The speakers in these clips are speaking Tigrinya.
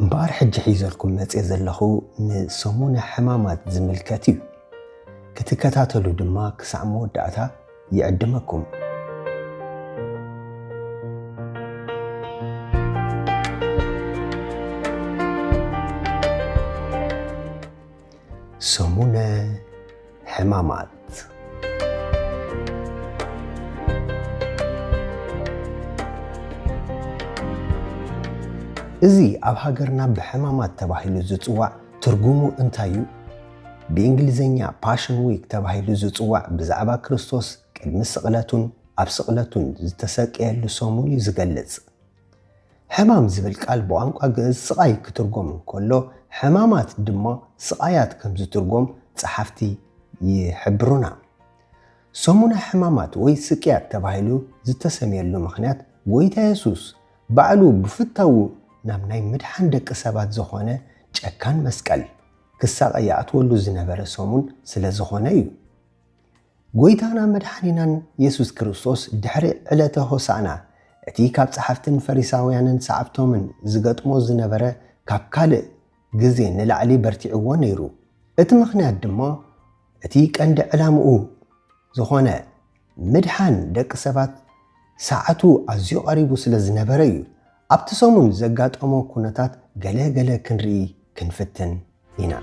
እምበኣር ሕጂ ሒዘልኩም መጼ ዘለኹ ንሰሙነ ሕማማት ዝምልከት እዩ። ክትከታተሉ ድማ ክሳዕ መወዳእታ ይዕድመኩም። ሰሙነ ሕማማት እዚ ኣብ ሃገርና ብሕማማት ተባሂሉ ዝጽዋዕ ትርጉሙ እንታይ እዩ? ብእንግሊዝኛ ፓሽን ዊክ ተባሂሉ ዝጽዋዕ ብዛዕባ ክርስቶስ ቅድሚ ስቕለቱን ኣብ ስቕለቱን ዝተሰቀየሉ ሰሙን እዩ ዝገልጽ። ሕማም ዝብል ቃል ብቋንቋ ግእዝ ስቓይ ክትርጎም እንከሎ ሕማማት ድማ ስቓያት ከም ዝትርጎም ጸሓፍቲ ይሕብሩና። ሰሙነ ሕማማት ወይ ስቅያት ተባሂሉ ዝተሰምየሉ ምኽንያት ጎይታ የሱስ ባዕሉ ብፍታዉ ናብ ናይ ምድሓን ደቂ ሰባት ዝኾነ ጨካን መስቀል ክሳቐ ይኣትወሉ ዝነበረ ሰሙን ስለ ዝኾነ እዩ። ጐይታና መድሓኒናን የሱስ ክርስቶስ ድሕሪ ዕለተ ሆሳእና እቲ ካብ ጸሓፍትን ፈሪሳውያንን ሰዓብቶምን ዝገጥሞ ዝነበረ ካብ ካልእ ግዜ ንላዕሊ በርቲዕዎ ነይሩ። እቲ ምኽንያት ድማ እቲ ቀንዲ ዕላምኡ ዝኾነ ምድሓን ደቂ ሰባት ሰዓቱ ኣዝዩ ቀሪቡ ስለ ዝነበረ እዩ። ኣብቲ ሰሙን ዘጋጠሞ ኩነታት ገለ ገለ ክንርኢ ክንፍትን። ኢና።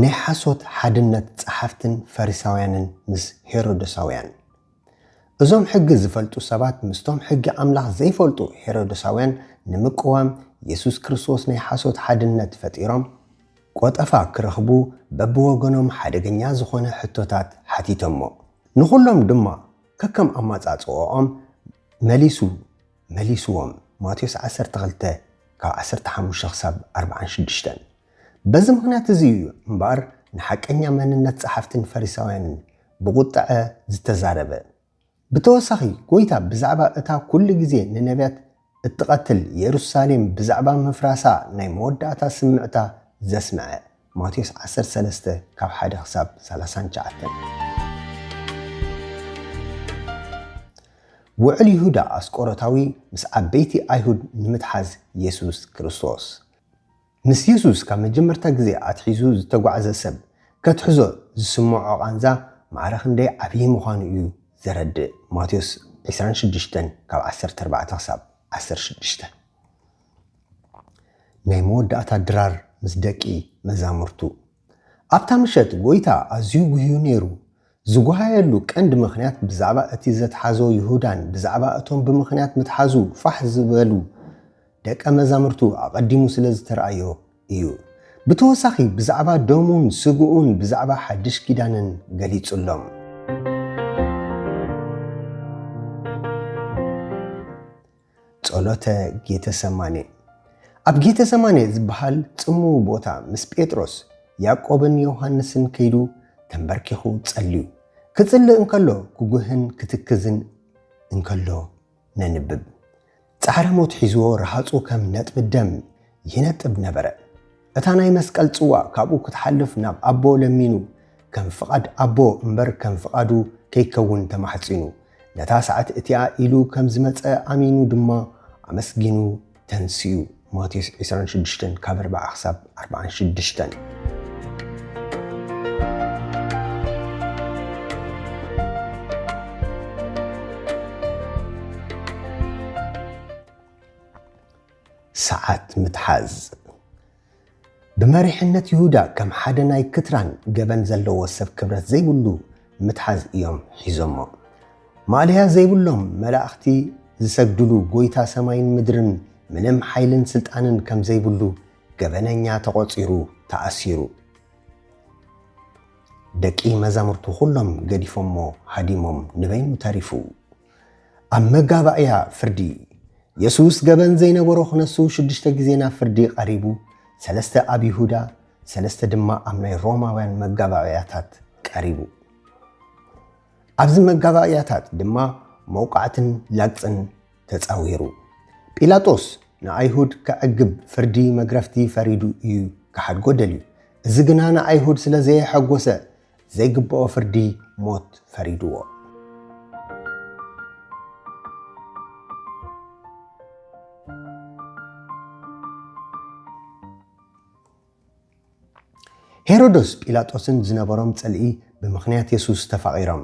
ናይ ሓሶት ሓድነት ጸሓፍትን ፈሪሳውያንን ምስ ሄሮዶሳውያን። እዞም ሕጊ ዝፈልጡ ሰባት ምስቶም ሕጊ ኣምላኽ ዘይፈልጡ ሄሮዶሳውያን ንምቅዋም የሱስ ክርስቶስ ናይ ሓሶት ሓድነት ፈጢሮም ቆጠፋ ክረኽቡ በብወገኖም ሓደገኛ ዝኾነ ሕቶታት ሓቲቶሞ። ንኹሎም ድማ ከከም ኣማጻጽኦኦም መሊሱ። መሊስዎም፣ ማቴዎስ ዓሰርተ ክልተ ካብ ዓሰርተ ሓሙሽተ ክሳብ ኣርብዓን ሽዱሽተን። በዚ ምኽንያት እዚ እዩ እምበኣር ንሓቀኛ መንነት ጸሓፍትን ፈሪሳውያንን ብቝጥዐ ዝተዛረበ። ብተወሳኺ፣ ጐይታ ብዛዕባ እታ ኵሉ ግዜ ንነብያት እትቐትል የሩሳሌም ብዛዕባ ምፍራሳ ናይ መወዳእታ ስምዕታ ዘስምዐ ማቴዎስ ዓሰርተ ሰለስተ ካብ ሓደ ክሳብ ሰላሳን ትሽዓተን። ውዕል ይሁዳ ኣስቆሮታዊ ምስ ዓበይቲ ኣይሁድ ንምትሓዝ የሱስ ክርስቶስ። ምስ የሱስ ካብ መጀመርታ ግዜ ኣትሒዙ ዝተጓዕዘ ሰብ ከትሕዞ ዝስምዖ ቃንዛ ማዕረ ክንደይ ዓብዪ ምዃኑ እዩ ዘረድእ፣ ማቴዎስ ዕስራን ሽዱሽተን ካብ ዓሰርተ ኣርባዕተ ክሳብ ዓሰርተ ሽዱሽተ። ናይ መወዳእታ ድራር ምስ ደቂ መዛሙርቱ። ኣብታ ምሸት ጐይታ ኣዝዩ ጕህዩ ነይሩ። ዝጐሃየሉ ቀንዲ ምኽንያት ብዛዕባ እቲ ዘትሓዞ ይሁዳን ብዛዕባ እቶም ብምኽንያት ምትሓዙ ፋሕ ዝበሉ ደቀ መዛሙርቱ ኣቐዲሙ ስለ ዝተራእዮ ኢዩ። ብተወሳኺ ብዛዕባ ደሙን ስግኡን ብዛዕባ ሓድሽ ኪዳንን ገሊጹሎም። ጸሎተ ጌተሰማኔ ኣብ ጌተሰማኔ ዝበሃል ጽምው ቦታ ምስ ጴጥሮስ ያዕቆብን ዮሃንስን ከይዱ ተምበርኪኹ ጸልዩ ክጽሊ እንከሎ ክጉህን ክትክዝን እንከሎ ነንብብ። ጻዕረ ሞት ሒዝዎ ረሃጹ ከም ነጥቢ ደም ይነጥብ ነበረ። እታ ናይ መስቀል ጽዋእ ካብኡ ክትሓልፍ ናብ ኣቦ ለሚኑ፣ ከም ፍቓድ ኣቦ እምበር ከም ፍቓዱ ከይከውን ተማሕጺኑ፣ ነታ ሰዓት እቲኣ ኢሉ ከም ዝመጸ ኣሚኑ ድማ ኣመስጊኑ ተንሲኡ፣ ማቴዎስ ዕስራን ሽዱሽተን ካብ ኣርብዓ ክሳብ ኣርብዓን ሽዱሽተን። ሰዓት ምትሓዝ። ብመሪሕነት ይሁዳ ከም ሓደ ናይ ክትራን ገበን ዘለዎ ሰብ ክብረት ዘይብሉ ምትሓዝ እዮም ሒዞሞ። ማእለያ ዘይብሎም መላእኽቲ ዝሰግድሉ ጎይታ ሰማይን ምድርን ምንም ሓይልን ስልጣንን ከም ዘይብሉ ገበነኛ ተቖጺሩ ተኣሲሩ። ደቂ መዛሙርቱ ኩሎም ገዲፎሞ ሃዲሞም ንበይኑ ተሪፉ። ኣብ መጋባእያ ፍርዲ የሱስ ገበን ዘይነበሮ ክነሱ ሽዱሽተ ግዜ ናብ ፍርዲ ቀሪቡ፣ ሰለስተ ኣብ ይሁዳ፣ ሰለስተ ድማ ኣብ ናይ ሮማውያን መጋባእያታት ቀሪቡ። ኣብዚ መጋባእያታት ድማ መውቃዕትን ላግጽን ተጻዊሩ። ጲላጦስ ንኣይሁድ ከዕግብ ፍርዲ መግረፍቲ ፈሪዱ እዩ ክሓድጎ ደልዩ። እዚ ግና ንኣይሁድ ስለ ዘየሐጎሰ ዘይግብኦ ፍርዲ ሞት ፈሪድዎ። ሄሮዶስ ጲላጦስን ዝነበሮም ጽልኢ ብምኽንያት የሱስ ተፋቒሮም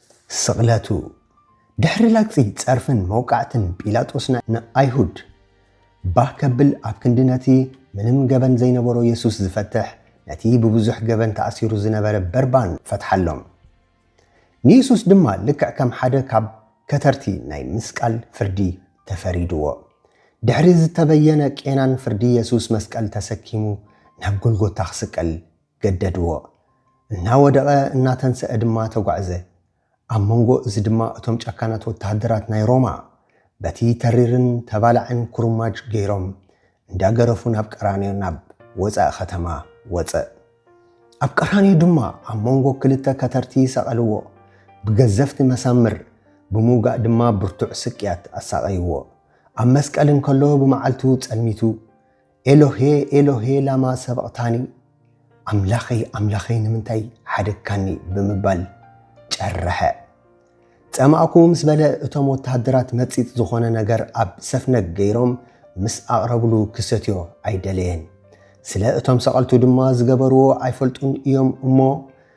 ስቕለቱ፣ ድሕሪ ላግጺ ጸርፍን መውቃዕትን ጲላጦስ ንኣይሁድ ባህ ከብል ኣብ ክንዲ ነቲ ምንም ገበን ዘይነበሮ የሱስ ዝፈትሕ ነቲ ብብዙሕ ገበን ተኣሲሩ ዝነበረ በርባን ፈትሓሎም። ንየሱስ ድማ ልክዕ ከም ሓደ ካብ ከተርቲ ናይ ምስቃል ፍርዲ ተፈሪድዎ። ድሕሪ ዝተበየነ ቄናን ፍርዲ የሱስ መስቀል ተሰኪሙ ናብ ጎልጎታ ክስቀል ገደድዎ። እናወደቐ እናተንሰኣ ድማ ተጓዕዘ። ኣብ መንጎ እዚ ድማ እቶም ጨካናት ወተሃደራት ናይ ሮማ በቲ ተሪርን ተባላዕን ኩርማጅ ገይሮም እንዳገረፉ ናብ ቀራንዮ ናብ ወጻኢ ከተማ ወጸእ። ኣብ ቀራንዮ ድማ ኣብ መንጎ ክልተ ከተርቲ ሰቐልዎ። ብገዘፍቲ መሳምር ብምውጋእ ድማ ብርቱዕ ስቅያት ኣሳቐይዎ። ኣብ መስቀል እንከሎ ብመዓልቱ ጸልሚቱ ኤሎሄ ኤሎሄ ላማ ሰበቕታኒ፣ ኣምላኸይ ኣምላኸይ ንምንታይ ሓደግካኒ ብምባል ጨረሐ። ጸማእኩ ምስ በለ እቶም ወተሃደራት መጺጽ ዝኾነ ነገር ኣብ ሰፍነግ ገይሮም ምስ ኣቕረብሉ ክሰትዮ ኣይደለየን። ስለ እቶም ሰቐልቱ ድማ ዝገበርዎ ኣይፈልጡን እዮም እሞ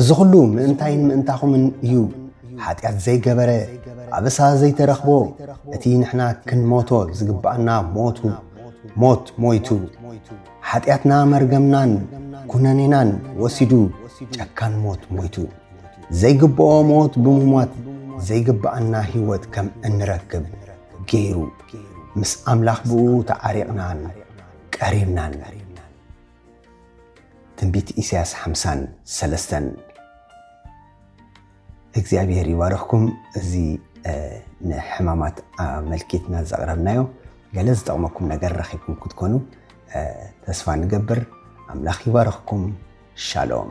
እዚ ኹሉ ምእንታይን ምእንታኹምን እዩ ሓጢኣት ዘይገበረ ኣበሳ ዘይተረኽቦ እቲ ንሕና ክንሞቶ ዝግብኣና ሞቱ ሞት ሞይቱ ሓጢኣትና መርገምናን ኩነኔናን ወሲዱ ጨካን ሞት ሞይቱ ዘይግብኦ ሞት ብምሟት ዘይግብኣና ህይወት ከም እንረክብ ገይሩ ምስ ኣምላኽ ብኡ ተዓሪቕናን ቀሪብናን ትንቢት ኢሳያስ ሓምሳን ሰለስተን እግዚኣብሔር ይባርኽኩም እዚ ንሕማማት ኣመልኪትና ዘቕረብናዮ ገለ ዝጠቕመኩም ነገር ረኺብኩም ክትኮኑ ተስፋ ንገብር ኣምላኽ ይባርኽኩም ሻሎም